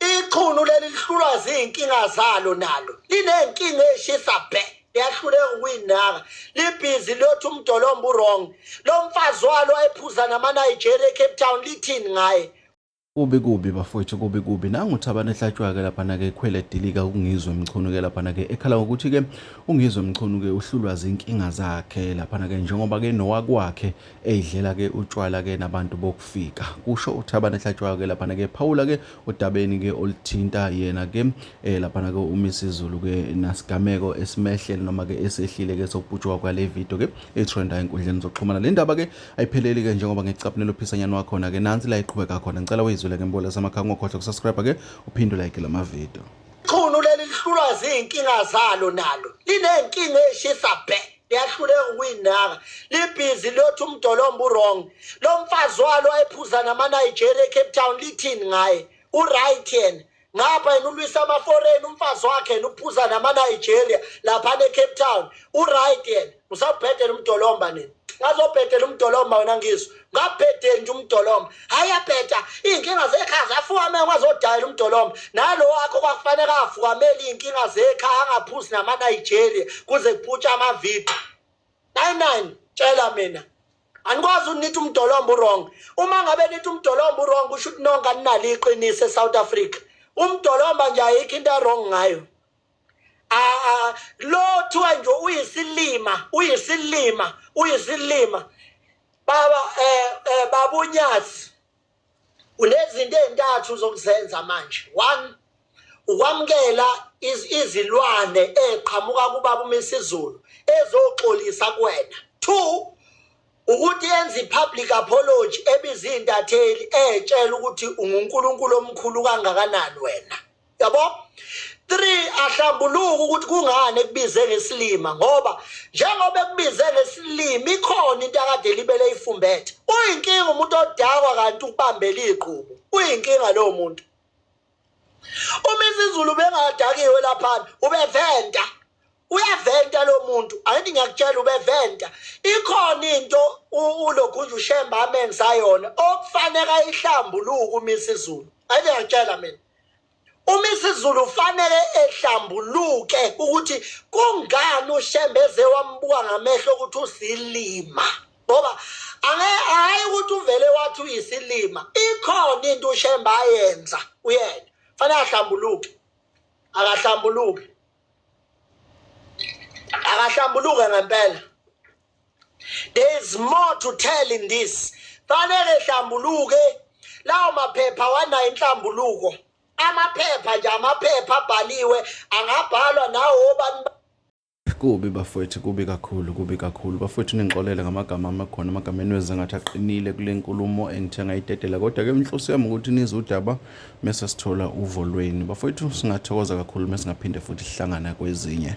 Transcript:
ichunu leli lihlulwa ziyinkinga zalo nalo linenkinga eshisa bhe liyahluleka ukuyinaka libhizi liyothi umdolomba urong lo mfazi walo ephuza namanigeria ecape town lithini ngaye kubi kubi bafowethu kubi kubi nanguthabane ehlatshwa-ke laphana-ke ekhwele edilika ungizwe mchunu-ke laphana-ke ekhala ngokuthi-ke ungizwe mchunu-ke uhlulwa zinkinga zakhe laphana-ke njengoba-ke nowakwakhe eyidlela ke utshwala ke nabantu bokufika kusho uThabane Hlatshwayo ke laphana ke phawula ke odabeni ke olithinta yena ke eh laphana ke uMisizulu ke nasigameko esimehlele noma ke esehlile ke sokubhutshwa kwale video ke etrenda enkundleni zokuxhumana le ndaba ke ayipheleli ke njengoba ngicaphunela uphisanyana wakhona ke nansi la iqhubeka khona ngicela uyizwele ke mbolesa amakhanga ungakhohlwa ukusubscribe ke uphinde like la mavideo ichunu leli lihlulwa zinkinga zalo nalo linenkinga eshisa bhe liyahluleka ukuyinaka libhizi liyothi umdolomba urong lo mfazi walo ayephuza namanigeria ecape town lithini ngaye uright yena ngapha yena ulwisa amaforeni umfazi wakhe yena uphuza namanigeria laphana ecape town uright yena usabhedela umdolomba nini ngazobhedela umdolomba wena ngizwa ngabhede nje umdolomba hhayi yabheda iy'nkinga zekhaya zafukame kwazodayela umdolomba nalo wakho kwakufanele afukamele iy'nkinga zekhaya angaphuzi namanigeria kuze kuphutshwe amavidiyo nine nine tshela mina anikwazi unitha umdolomba urong uma ngabe nitha umdolomba urong kusho ukuthi nonke aninalo iqiniso esouth africa umdolomba nje ayikho into erong ngayo Ah, lo kuthiwa nje uyisilima uyisilima uyisilima baba eh, eh babunyazi unezinto ezintathu zokuzenza manje one ukwamukela izilwane eqhamuka kubaba uMisizulu ezoxolisa kuwena two ukuthi enze i-public apology ebiza iy'ntatheli etshela ukuthi ungunkulunkulu omkhulu kangakanani wena yabo three ahlambuluka ukuthi kungani ekubize ngesilima ngoba njengoba ekubize ngesilima ikhona into akade libele ifumbethe uyinkinga umuntu odakwa kanti ukubambela igqubu uyinkinga lowo muntu uma isizulu bengadakiwe laphana ubeventa uyaventa lo muntu angithi ngiyakutshela ubeventa ikhona into ulogunje ushemba amenza yona okufaneka ihlambuluke umisa izulu angithi ngiyakutshela mina umisa izulu ufanele ehlambuluke ukuthi kungani ushemba eze wambuka ngamehlo ukuthi usilima ngoba hhayi ukuthi uvele wathi uyisilima ikhona into ushemba ayenza uyena fanele ahlambuluke akahlambuluke akahlambuluke ngempela there is more to tell in this fanele hlambuluke lawo maphepha wanayo inhlambuluko amaphepha nje amaphepha abhaliwe angabhalwa nawo obani kubi bafowethu kubi kakhulu kubi kakhulu bafowethu ningixolele ngamagama amakhona amagama enwezi ngathi aqinile kule nkulumo engithe ngayitetela kodwa-ke inhloso yami ukuthi nizwe udaba mese sithola uvo lwenu bafowethu singathokoza kakhulu mesingaphinde futhi sihlangana kwezinye